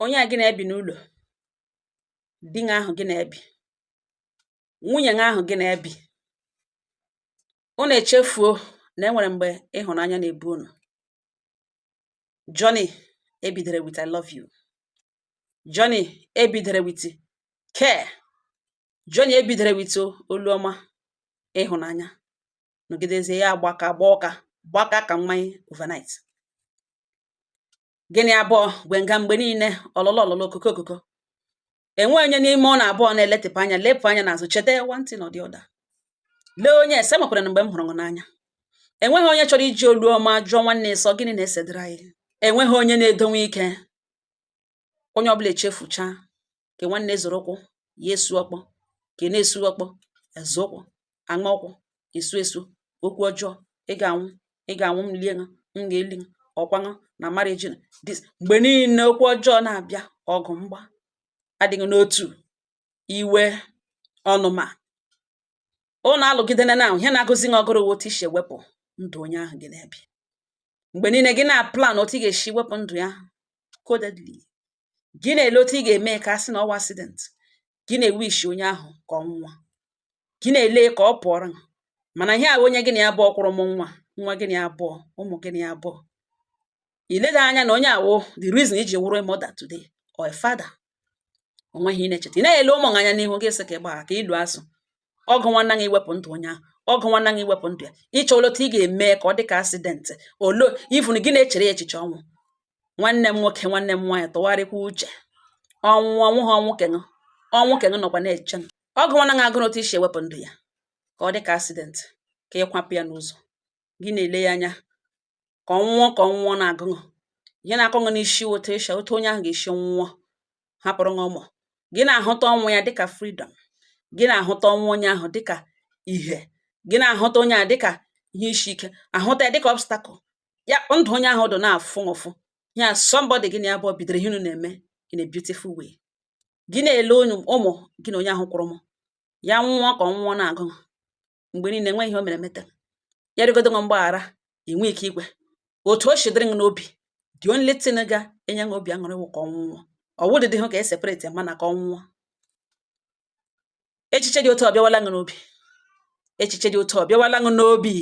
onye a gị na-ebi n'ụlọ di gị ahụ gị na-ebi nwunye gị ahụ gị na-ebi unu echefuo na enwere mgbe ịhụnanya na-ebu unu journey ebidere with I love you journey ebidere with care journey ebidere with olu ọma ịhụnanya nọgidezie ya gbaka gbaa ụka gbaka ka mmanya overnight gị na ya abụọ gwe nga mgbe niile ọlụlụ ọlụlụ okoko okoko enweghị onye n'ime unu abụọ na-eletịpụ anya lepụ anya n'azụ cheta one thing or the other lee onye a sị enwekwaranụ mgbe m hụrụ gị n'anya enweghị onye chọrọ iji olu ọma jụọ nwanne sị ọ gịnị na-esedịrị anyị enweghị onye na-edonwe ike onye ọbụla echefuchaa ke nwanne zọrọ ụkwụ ya esu ọkpọ ke na-esu ọkpọ azọ ụkwụ aṅa ọkwụ esu esu okwu ọjọọ ị ga-anwụ ị ga-anwụ m lie ṅụ m ga-eli ṅụ ọkwa ṅụ na marriage na this mgbe niile okwu ọjọọ na-abịa ọgụ mgba adịghị n'otu iwe ọnụma unu alụgidena na ihe na-agụzi ṅụ agụrụ otu i si ewepụ ndụ onye ahụ gị na-ebi mgbe niile gị na-aplan otu ị ga-esi wepụ ndụ ya codedly gị na-ele otu ị ga-eme ka a sị na ọ wụ accident, gị na-ewish onye ahụ ka ọ nwụọ, gị na-ele ka ọ pụọrọ gị mana ihe a wụ onye gị na ya abụọ kwụrụ mụọ nwa, nwa gị na ya abụọ, ụmụ gị na ya abụọ. I leda anya na onye a wụ the reason i ji wụrụ a mother today or a father. O nweghị ihe ị na-echeta. Ị naghị ele ụmụ gị anya n'ihu gị sị ka ị gbagha ka i loo asụ ọ gụwana gị iwepụ ndụ onye ahụ ọ gụwana gị iwepụ ndụ ya ịchọ olee otu ị ga-eme ka ọ dị ka accident or even gị na-echere ya echiche ọnwụ nwanne m nwoke nwanne m nwaanyị tụgharịkwa uche ọnwụ ọnwụ ha ọnwụ ke ṅụ ọnwụ ke ṅụ nọkwa na-eche ọ gụwana gị agụrụ otu i si ewepụ ndụ ya ka ọ dị ka accident ka ị kwapụ ya n'ụzọ gị na-ele ya anya ka ọ nwụọ ka ọ nwụọ na-agụ ṅụ ihe na-akụ ṅụ n'isi wụ otu onye ahụ ga-esi nwụọ hapụrụ ṅụ ụmụ gị na-ahụta ọnwụ ya dịka freedom gị na-ahụta ọnwụ onye ahụ dịka ihe gị na-ahụta onye ahụ dịka ihe isi ike ahụta ya dịka obstacle ya ndụ onye ahụ dụ na-afụ ụfụ ya somebody gị na ya abụọ bidoro ihe unu na-eme in a beautiful way gị na-ele ụmụ gị na onye ahụ kwụrụ mụọ ya nwụọ ka ọ nwụọ na-agụ mgbe niile enweghị ihe o mere meta ya rịọgodị ṅụ mgbaghara i nweghị ike ikwe otu o si dịrị gị n'obi the only thing ga-enye gị obi aṅụrị wụ ka ọ nwụọ ọ wụdịhụ ka e separate ya mana ka ọ nwụọ echiche dị otu a ọ bịawala gị n'obi echiche dị otu a ọ bịawala gị n'obi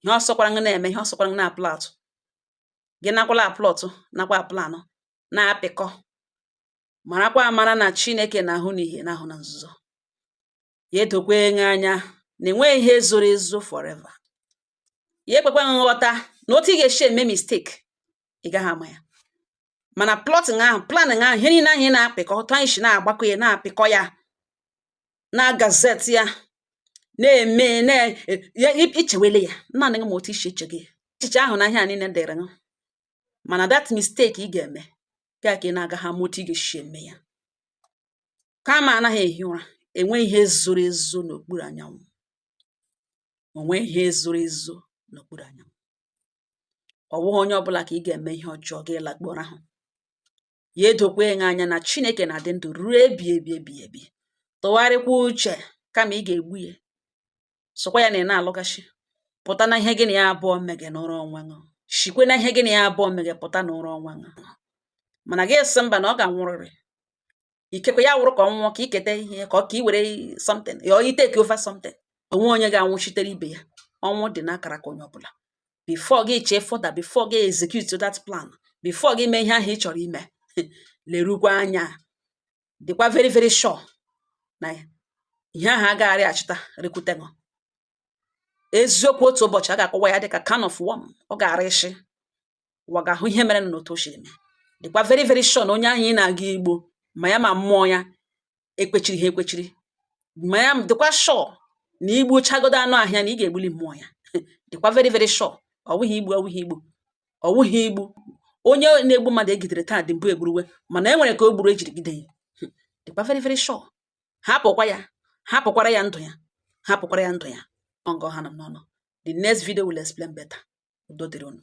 ihe ọ sọkwara gị na-eme ihe ọ sọkwara gị na-aplot gị nakwala aplot nakwa aplan na-apịkọ marakwa amara na Chineke na-ahụ n'ihe na-ahụ na nzuzo ya edokwa gị anya na enweghị ihe zoro ezo forever ya ekwekwa nghọta na otu ị ga-esi eme mistake ị gaghị ama ya mana plotting ahụ planning ahụ ihe niile ahụ ị na-apịkọ otu ahụ ị si na-agbakọ ya na-apịkọ ya na gazette ya na-eme ị chewele ya naanị gị ma otu isi eche gị echiche ahụ na ihe a niile dịrị gị mana that mistake ị ga-eme ga ka ị na-agaghị ama otu ị ga-esi eme ya karma anaghị ehi ụra enweghị ihe zoro ezo n'okpuru anyanwụ o nweghị ihe zoro ezo n'okpuru anyanwụ ọ bụghị onye ọbụla ka ị ga-eme ihe ọjọọ gị lakpọrọ ahụ ya edokwa anyị anya na chineke na-adị ndụ ruo ebighị ebi ebighị ebi tụgharịkwa uche kama ị ga-egbu ya sịkwa ya na ị na-alụgashi pụta na ihe gị na ya abụọ mege nọrọ onwe gị shikwe na ihe gị na ya abụọ mege pụta nọrọ onwe gị mana gị sị mba na ọ ga-anwụrịrị ikekwe ya wụrụ ka ọ nwụọ ka i keta ihe ka ọ ka i were something ya or ị take over something o nweghị onye ga-anwụchitere ibe ya ọnwụ dị n'akara aka onye ọbụla before gị chee further before gị execute that plan before gị mee ihe ahụ ị chọrọ ime lerukwa anya dịkwa very very sure na ihe ahụ agagharị achịta rekwute gị eziokwu otu ụbọchị a ga-akọwa ya dịka can of worm ọ ga-ara ishi ụwa ga-ahụ ihe mere na otu o siri mee dịkwa very very sure na onye ahụ ị na-aga igbu ma ya ma mmụọ ya ekwechiri ha ekwechiri ma ya dịkwa sure na i gbuchagodo anụ ahụ ya na ị ga-egbuli mmụọ ya dịkwa very very sure ọ wụghị igbu ọ wụghị igbu ọ wụghị igbu onye na-egbu mmadụ e gidere taa dị mbụ egburuwe mana e nwere ka o gburu e jiri gide ya hmm. dịkwa very very sure hapụkwa ya hapụkwara ya ndụ ya hapụkwara ya ndụ ya ọ nga ọ ha m n'ọnụ the next video will explain better udo dịrị unu